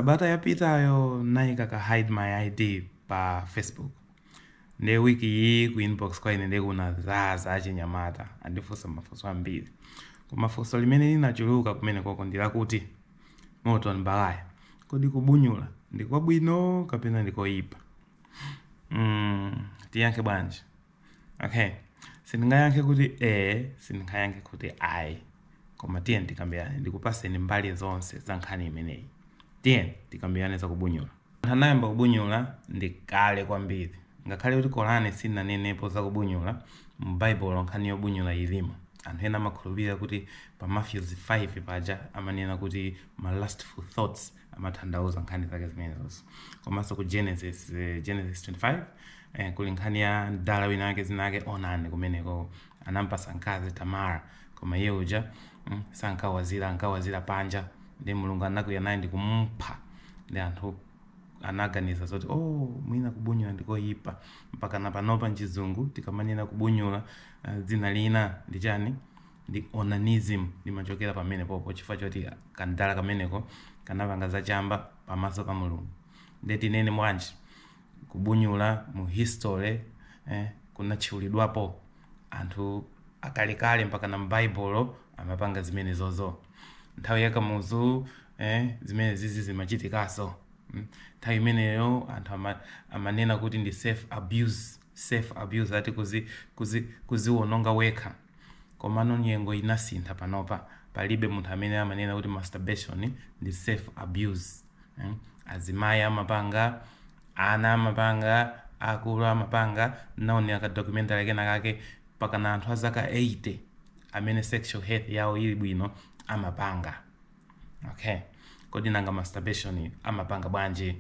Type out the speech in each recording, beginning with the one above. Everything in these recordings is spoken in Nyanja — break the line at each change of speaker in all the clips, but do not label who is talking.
Sabata yapitayo naika ka hide my ID pa Facebook. Nde week iyi ku inbox kwa ine nde kunazaza achinyamata andifunsa mafunso ambiri. Koma funso limene linachuluka kumene koko ndi lakuti Morton Balaya kodi kubunyula ndi kwabwino kapena ndi koyipa? Mm, tiyankhe bwanji? okay sindingayankhe kuti e sindingayankhe kuti ayi koma tiyeni tikambirane ndikupaseni mbali zonse za nkhani imeneyi tiyeni tikambirane za kubunyula anthu anayamba kubunyula ndi kale kwambiri ngakhale kuti korani sinanenepo za kubunyula mu baibulo nkhani yobunyula ilimo anthu ena amakhulupirira kuti pa Matthews 5 paja amanena kuti ma lustful thoughts amatanthauza nkhani zake zimenezozo komanso ku genesis eh, genesis 25 eh, kuli nkhani ya mdala wina wake zina lake Onani kumeneko anampasa mkazi tamara koma iye uja mm, sankawazira ankawazira panja nde mulungu anakwiya naye ndikumpha nde anthu anaganiza zoti oh mwina kubunyula ndikoyipa mpaka na panopa mchizungu tikamanena kubunyula uh, dzina lina ndi chani ndi onanism limachokera pamenepopo chifukwa choti kamdala kameneko kanapanga zachamba pamaso pa mulungu nde tinene bwanji kubunyula mu history eh, kunatchulidwapo anthu akalekale mpaka na mbaibulo amapanga zimenezozo nthawi ya Kamuzu eh, zimenezizi zimachitikaso Mm. nthawi imeneyo anthu ama, amanena kuti ndi self abuse self abuse ati kuzi, kuzi, kuziwononga wekha Komano nyengo inasintha panopa palibe munthu amene amanena kuti masturbation ndi self abuse mm? azimayi amapanga ana amapanga akulu amapanga naonera kale documentary kena kake pakana anthu azaka 80 amene sexual health yawo ili bwino amapanga Okay. Kodi nanga masturbation amapanga bwanji?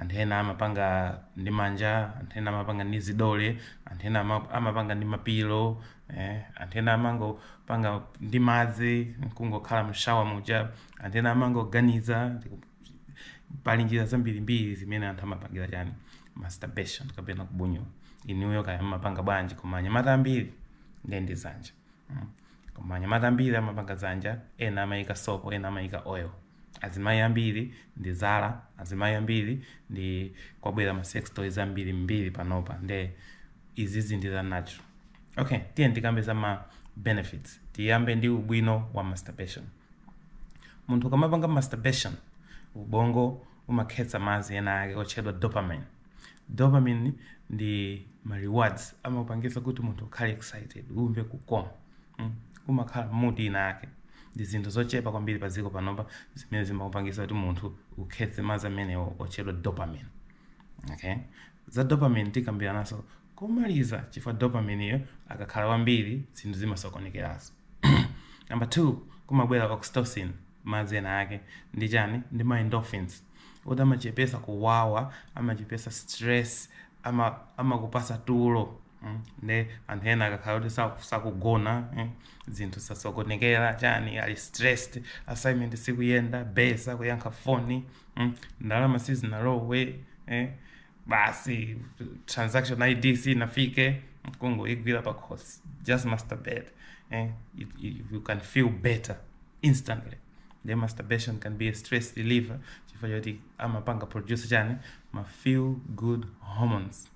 Anthu ena amapanga ndi manja, anthu ena amapanga ndi zidole, anthu ena ama- amapanga ndi mapilo, eh? anthu ena amangopanga ndi madzi nkungokhala mshawa muja, anthu ena amangoganiza pali njira zambirimbiri zimene anthu amapangira chani masturbation kapena kubunyula inuyo kaya mmapanga bwanji koma anyamata ambiri ndiye ndi zanja Mm. koma anyamata ambiri amapanga dzanja ena amayika sopo ena amayika oil azimayi ambiri ndi zala azimayi ambiri nde kwabwera ma sex toys ambirimbiri panopa nde izizi ndi za natural okay tiye tikambe za ma benefits tiyambe ndi ubwino wa masturbation munthu ukamapanga masturbation ubongo umakhetsa madzi ena ake otchedwa dopamine dopamine ndi ma rewards amapangitsa kuti munthu ukhale excited umve kukoma umakhala mood ina yake ndi zinthu zochepa kwambiri pa dziko panopa zimene zimakupangitsa kuti munthu ukhetse madzi amenewo otchedwa dopamine okay za dopamine tikambirananso komaliza chifukwa dopamine iyo akakhala kwambiri zinthu zimasokonekeraso number two kumabwera oxytocin madzi ena ake ndi chani ndi ma endorphins kuti amachepesa kuwawa amachepesa stress ama amakupasa tulo mm, nde anthu ena akakhala kuti saku- sakugona mm, zinthu zasokonekera chani ali stressed assignment sikuyenda besa kuyankha foni mm, ndalama sizinalowe eh, basi transaction id sinafike nkungoigwira pa khosi just masturbate eh? you, you, you can feel better instantly nde masturbation can be a stress reliever chifukwa choti amapanga produce chani ma feel good hormones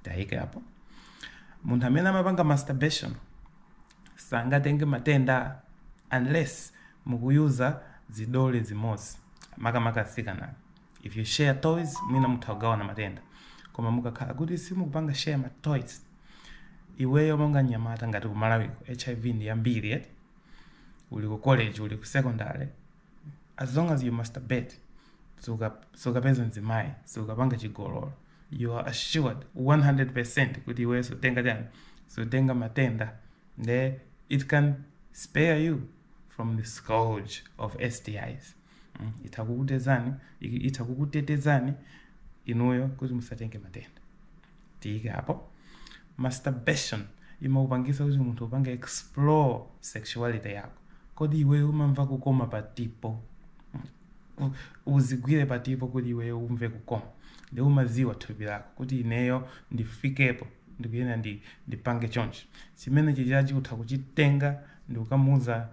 tiyike apo munthu amene amapanga masturbation sangatenge matenda unless mukuyuza zidole zimodzi makamaka asikana if you share toys mwina mutha kugawana matenda koma mukakhala kuti simukupanga share ma toys iweyo monga mnyamata ngati kumalawiko hiv ndi yambiri yet uli ku college uli ku secondary as long as you masturbate suka- sukapeza mzimayi sukapanga chigololo you are assured 100 percent kuti iweyo sutenga chani sutenga matenda nde it can spare you from the scourge of stis Mm, itha kukutezani i- itha kukutetezani inuyo kuti musatenge matenda tiyike apo masturbation imakupangisa kuti munthu upange explore sexuality yako kodi iweyo umamva kukoma patipo Mm, u- uzigwire patipo kuti iweyo umve kukoma nde umaziwa thupi lako kuti ineyo ndifikepo ndikuyena ndi ndipange chonchi chimenechijachi utha kuchitenga ndikukamuuza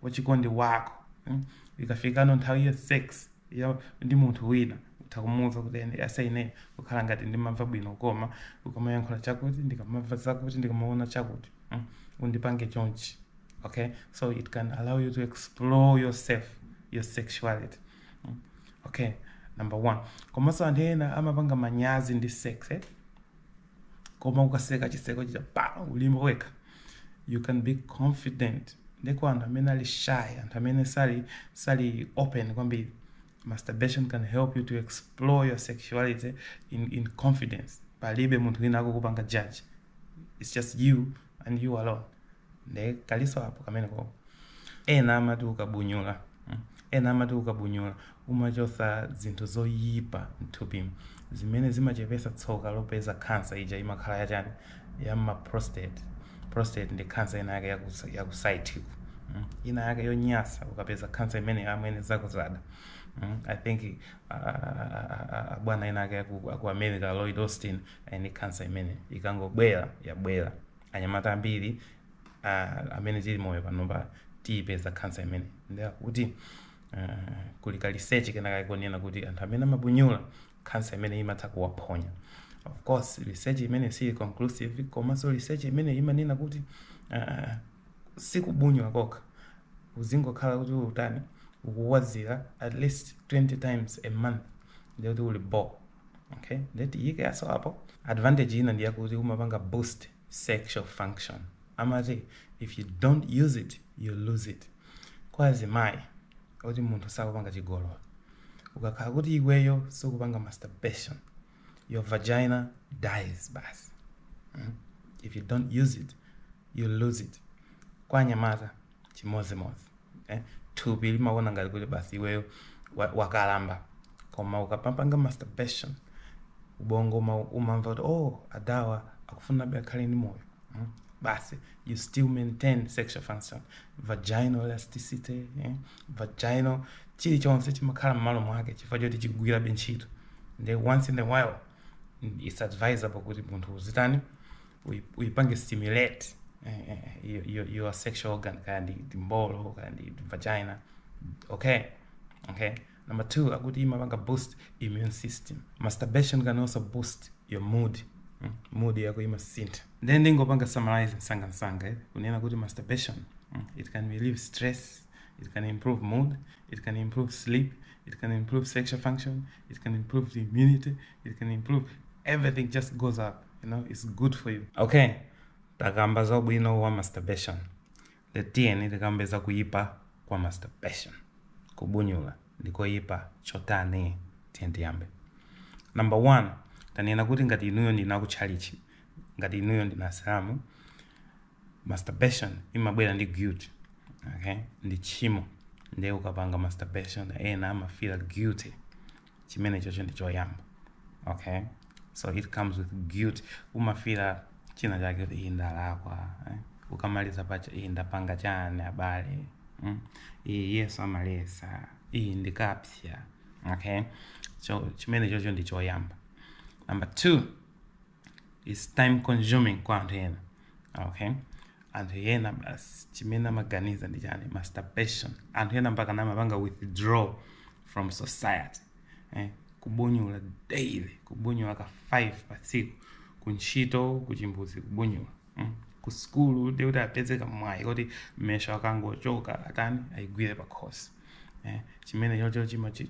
wachikondi wako mm? ikafikano nthawi ya sex ya ndi munthu wina utha kumuwuza kuti aise ine kukhala ngati ndimamva bwino koma ukamayankhula chakuti ndikamamva zakuti ndikamaona chakuti mm? undipange chonchi okay so it can allow you to explore yourself your sexuality mm? okay number one komanso anthu ena amapanga manyazi ndi sex eh? koma ukaseka chiseko chija paja ulimo wekha you can be confident ndeko anthu amene ali shy anthu amene sali sali open kwambiri masturbation can help you to explore your sexuality in, in confidence palibe munthu wina akukupanga judge it's just you and you alone nde kaikenso apo kameneko ena amati ukabunyula mm, ena amati ukabunyula umachotsa zinthu zoyipa mthupi zimene zimachepetsa tsoka lopeza khansa ija imakhala yachani ya ma prostate prostate ndi khansa ina yake ya ku site ku mm, ina yake yonyasa ukapeza khansa imene amwene zakudzada mm, i think uh, uh, uh, uh, bwana wina wake aku, aku america lloyd austin ni khansa imene ikangobwera yabwera anyamata ambiri uh, amene tili moyo panopa tiyipeza khansa imene ndiye kuti uh, kuli ka research kenakake konena kuti anthu amene amabunyula khansa imene imatha kuwaphonya of course research imene si conclusive komanso research imene imanena kuti uh, sikubunyula kokha uzingokhala kuti ukutani ukuwazira at least 20 times a month ndiye kuti uli bo okay nde tiyikenso apo advantage ina ndi yakuti umapanga boost sexual function amati if you don't use it you lose it kwa azimayi oti munthu sakupanga chigololo ukakhala kuti iweyo sukupanga masturbation your vagina dies basi mm? if you don't use it you lose it kwa anyamata chimodzimodzi eh? thupi limaona ngati kuti basi iweyo wa- wakalamba koma ukamapanga masturbation ubongo uma- umamva kuti oh adawa akufunabe akhale ndi moyo mm? basi you still maintain sexual function vaginal elasticity eh? vaginal chilichonse chimakhala mmalo mwake chifukwa choti chikugwirabe ntchito nde once in a while it's advisable kuti munthu uzitani uyipange stimulate eh, eh, your, your, your sexual organ kaya ndi ndi mbolo kaya ndi vagina okay okay number two akuti imapanga boost immune system masturbation can also boost your mood mm, mood yako imasintha then ndingopanga summarize msanga msanga eh, kunena kuti masturbation mm, it can relieve stress it can improve mood it can improve sleep it can improve sexual function it can improve the immunity it can improve everything just goes up you know it's good for you okay takamba za ubwino wa masturbation nde tiyeni tikambe za kuyipa kwa masturbation kubunyula ndikoyipa chotani tiyeni tiyambe number one tanena kuti ngati inuyo ndinu aku tchalitchi ngati inuyo ndinu asilamu masturbation imabwera ndi guilt okay ndi tchimo ndiye ukapanga masturbation ena amafila guilty chimenecho ndi choyamba okay so it comes with guilt umafila china chake kuti iyi ndalakwa eh? ukamaliza paja iyi ndapanga chani abale mm? iyi yesu amaletsa iyi ndikapsya okay so chimenecho ndi choyamba number two it's time consuming kwa anthu ena okay anthu ena basi chimene amaganiza ndi chani masturbation anthu ena mpaka kumapanga withdraw from society eh? kubunyula daily kubunyula ka 5 pa tsiku kuntchito kuchimbudzi kubunyula mm, ku sukulu ndiye kuti apeze kamwayi koti mmesha akangochoka atani ayigwire pa khosi eh, chimene chocho chimachi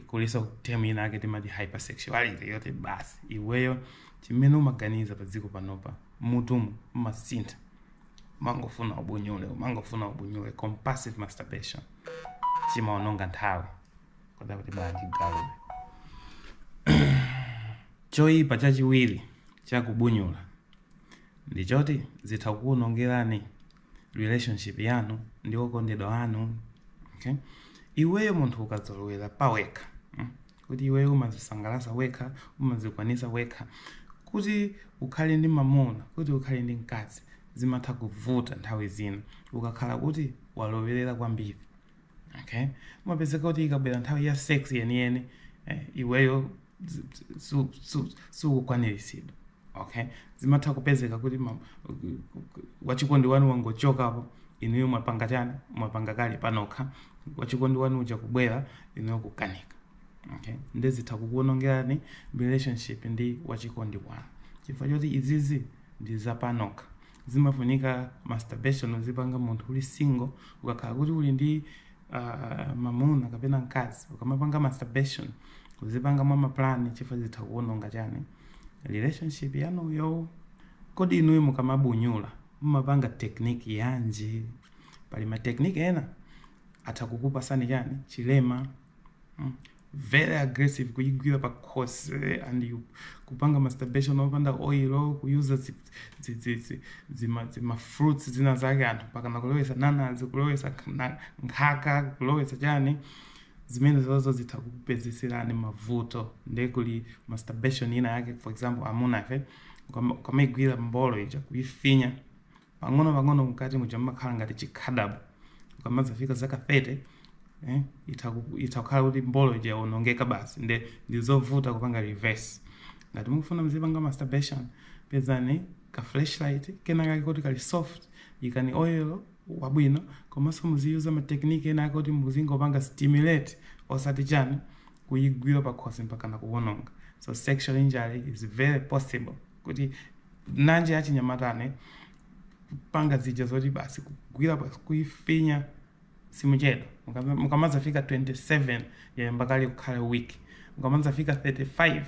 kuliso term ina ake timati hypersexuality yoti basi iweyo chimene umaganiza pa dziko panopa mmutumu umasintha umangofuna ubunyule umangofuna ubunyule compulsive masturbation chimaononga nthawi koda kuti bwanji galuwe choyipa chachiwiri chakubunyula ndi choti zitha kukuonongerani relationship yanu ndi okondedwa anu okay? iweyo munthu ukazolowera pawekha mm, kuti iweyo umazisangalasa wekha umazikwanisa wekha kuti ukhale ndi mamuna kuti ukhale ndi mkazi zimatha kuvuta nthawi zina ukakhala kuti walowerera kwambiri okay umapezeka kuti ikabwera nthawi ya sex yeniyeni eh, iweyo sukukwaniritsidwa okay zimatha kupezeka kuti ma- wachikondi wanu wangochokapo inuyo mwapanga chani mwapanga kale panokha wachikondi wanu uja kubwera inuyo kukanika okay nde zitha kukuonongerani relationship ndi wachikondi wanu chifukwa choti izizi ndi zapanokha zimafunika masturbation uzipanga munthu uli single ukakhala kuti uli ndi uh, mamuna kapena mkazi ukamapanga masturbation uzipanga mwa mapulani chifukwa zitha kuononga chani relationship yanuyo kodi inuyo mukamabunyula mumapanga tekniki yanji pali matekniki ena atha kukupasani chani chilema mm. very aggressive kuyigwira pa khosi and you kupanga masturbation opanda oil kuyuza zi- zi- zi- zi- zima- zima fruits zina zake anthu mpakana kulowesa nanazi kulowesa khna- nkhaka kulowesa chani zimene zozo zitha kukupezeserani mavuto nde kuli masturbation ina yake for example amunafe ukama- ukamaigwira mbolo ija kuyifinya pang'onopang'ono mkati muja mumakhala ngati chikhadabo. Ukamadzafika zaka 30, eh, itha ku- itha kukhala kuti mbolo ija yawonongeka basi nde ndi zovuta kupanga reverse. Ngati mukufuna muzipanga masturbation, pezani ka fleshlight kena kake koti kali soft, ikani oil wabwino komanso muziyuza ma technique ena ake oti muzingopanga stimulate osati chani kuyigwira pakhosi mpakana kuwononga. So sexual injury is very possible. kuti nanje achinyamata ane kupanga zija zoti basi kugwira basi kuifinya simuchedwa Mukama- mukamadzafika 27 yayamba kale kukhala weak mukamadzafika 35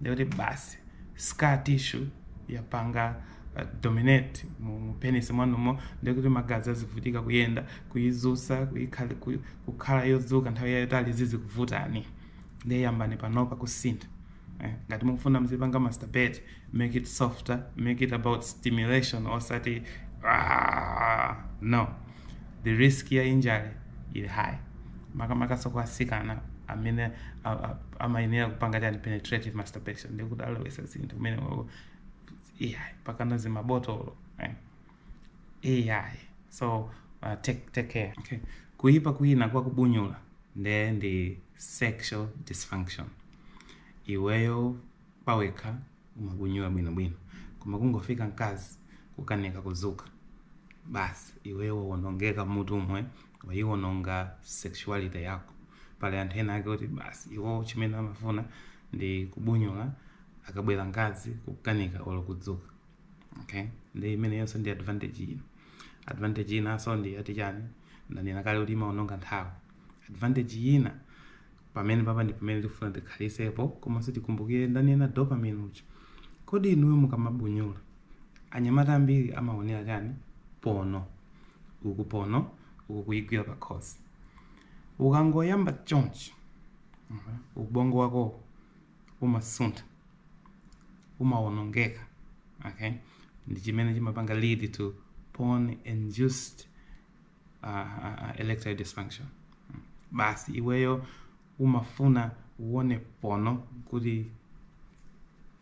ndekuti basi scar tissue yapanga uh, dominate mu mu penis mwanumo ndekuti magazi azivutika kuyenda kuyizusa kuyikhali- ku- kukhala yodzuka nthawi yayitali zizikuvutani nde yambani panopa kusintha Eh, ngati mukufuna mzipanga masturbate make it softer make it about stimulation osati ah, no the risk ya injury ili high makamakanso kwa asikana amene a- a- amayenera kupanga tchani penetrative masturbation ndikumalowetsa zinthu kumeneko yeah, mpakana zimabotolo eh. AI. So uh, take, take care. Okay. Kuipa kwina kwa kubunyula nde ndi sexual dysfunction. iweyo pawekha umabunyula bwinobwino koma kungofika mkazi kukanika kudzuka basi iweyo wawonongeka mutu umwe wayiwononga sexuality yako pali anthu ena ake kuti basi iwo chimene amafuna ndi kubunyula akabwera mkazi kukanika olo kudzuka okay ndi imeneyonso disadvantage ina advantage inanso ndi yoti chani ndanena kale kuti imaononga nthawi advantage ina Pamenepapa ndipamene tikufuna tikhalitsepo komanso tikumbukire ndanena dopamine uja kodi inuyo mukamabunyula anyamata ambiri amaonera chani porno uku porno uku kuyigwira pakhosi ukangoyamba chonchi ubongo wako umasuntha umawonongeka okay ndichimene chimapanga lead to porn induced uh, uh, erectile dysfunction basi iweyo umafuna uone pono kuti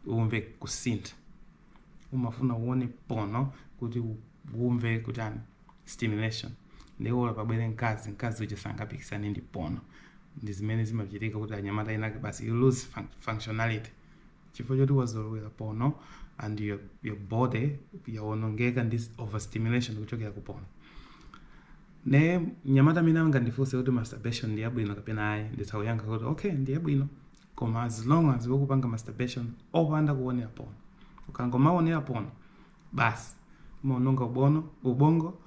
umve kusintha umafuna uone pono kuti u- umve kutani stimulation ndiye olo pabwere mkazi mkazi uja sangapikisane ndi pono ndi zimene zimachitika kuti anyamata ena ake basi you lose fun- functionality chifukwa choti wazolowera porno and your, your body yawonongeka ndi s- overstimulation kuchokera ku porno nde mnyamata amene angandifunse kuti masturbation ndi yabwino kapena ayi nditha kuyankha kuti okay ndi yabwino koma as long as ukupanga masturbation opanda kuonera porno ukangomaonera porno basi umaononga ubono ubongo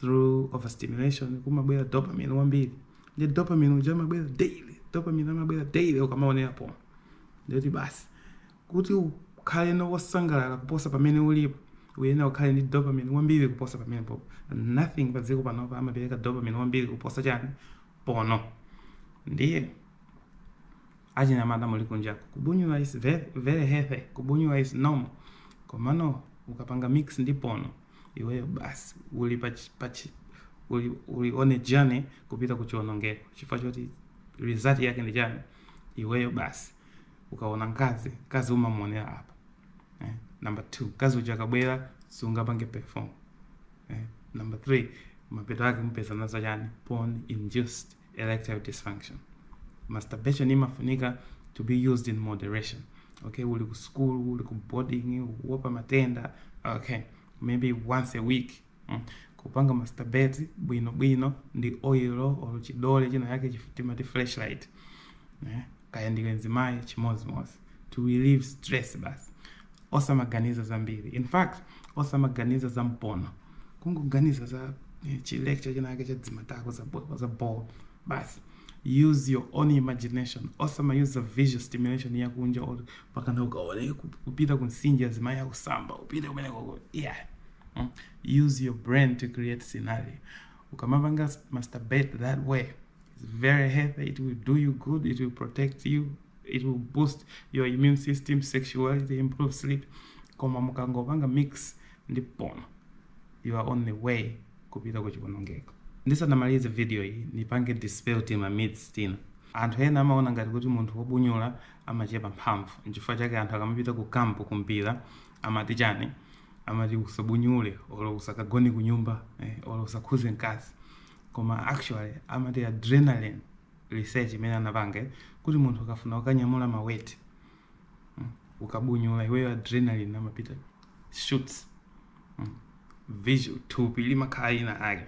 through overstimulation kumabwera dopamine wambiri ndi dopamine uja amabwera daily dopamine amabwera daily ukamaonera pono ndiye kuti basi kuti ukhale wosangalala kuposa pamene ulipo uyenera ukhale ndi dopamine wambiri kuposa pamenepopo nothing pa dziko panopa amapereka dopamine wambiri kuposa chani pono ndiye achinyamata muli kunjaku kubunyula is very healthy kubunyula is normal komano ukapanga mix ndi pono iweyo basi uli pa uli, uli on a journey kupita ku chionongeko chifukwa choti result yake ndi chani iweyo basi ukaona mkazi mkazi umamuonera apa eh? number 2 mkazi uja akabwera sungapange perform eh? number 3 mapeto ake upezana nazo chani porn induced erectile dysfunction masturbation imafunika to be used in moderation okay uli ku school uli ku boarding ukuopa matenda okay maybe once a week mm. kupanga masturbate bwino bwino ndi oil or chidole china yake chif- timati fleshlight eh? kaya ndiwe mzimayi chimozimozi to relieve stress basi osamaganiza zambiri in fact osamaganiza za porno kungoganiza za eh, chi lecture chinake cha dzimatako za bo- za ball basi use your own imagination osama use visual stimulation yakunja or pakana ukaone ku- kupita kumtsinje zimayi akusamba upite kumene koko yeah Mm. use your brain to create scenario ukamapanga masturbate that way It's very healthy. It will do you good. It will protect you. It will boost your immune system, sexuality, improve sleep. Koma mukangopanga mix ndi porn, you are on the way kupita kuchiwonongeko. Ndisanamalize video iyi nipange dispel tima myths tina. Anthu ena amaona ngati kuti munthu wobunyula amachepa mphamvu. Nchifukwa chake anthu akamapita ku kampu kumpira amati chani? Amati usabunyule olo usakagone kunyumba eh, olo usakhuze mkazi. koma actually amati adrenaline research imene anapanga eh, kuti munthu ukafuna ukanyamula ma weight mm, ukabunyula iweyo adrenaline amapanga shoot mm, visual thupi limakhala ina ake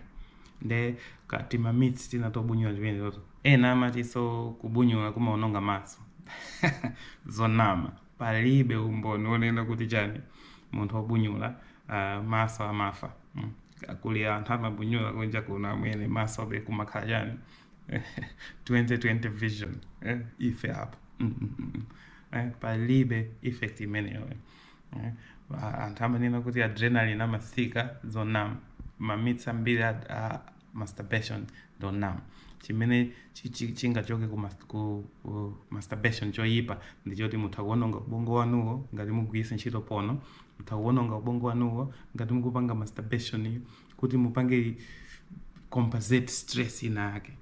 nde ka tima myths tina tobunyula chimene toto ena amati so kubunyula kumaononga maso zonama palibe umboni wonena kuti chani munthu wobunyula uh, maso amafa mm. kuli anthu amabunyula kunja kuno amwene maso be kumakhala chani 2020 vision eh? ife apo mm, mm, mm, mm. eh? palibe effect imeneyo eh? anthu amanena kuti adrenalin amasika zonama ma myths ambiri a- a- masturbation ndi onama chimene chi- chi- chingachoke ku, mas- ku, ku masturbation choyipa ndi choti mutha kuononga ubongo wanuwo ngati mugwiritsa ntchito porno mutha kuononga ubongo wanuwo ngati mukupanga masturbation iyo kuti mupange compensate stress ina yake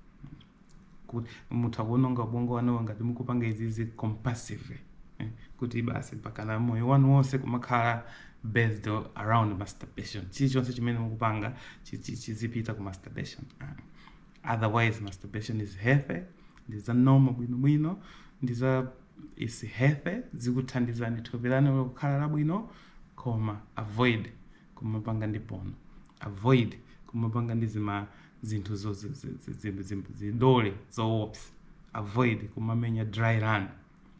kuti mutha kuononga ubongo wanuwo ngati mukupanga izizi compulsively eh, kuti basi pakana moyo wanu wonse kumakhala kuti based around masturbation chilichonse chimene mukupanga chi- chi- chizipita ku masturbation Ah. otherwise masturbation is healthy ndi za normal bwinobwino ndi za is healthy zikuthandizani thupi lanu kukhala labwino koma avoid kumapanga ndi porno avoid kumapanga ndi zima zinthu zo- zi- zi- zi- zi- zi- zidole zoopsa avoid kumamenya dry run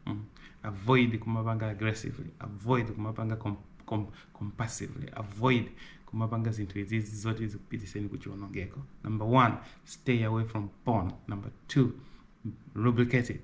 mm. avoid kumapanga aggressively avoid kumapanga com, com, compulsively avoid kumapanga zinthu izizi zoti zikupitiseni kuchiwonongeko number one stay away from porn number two lubricate it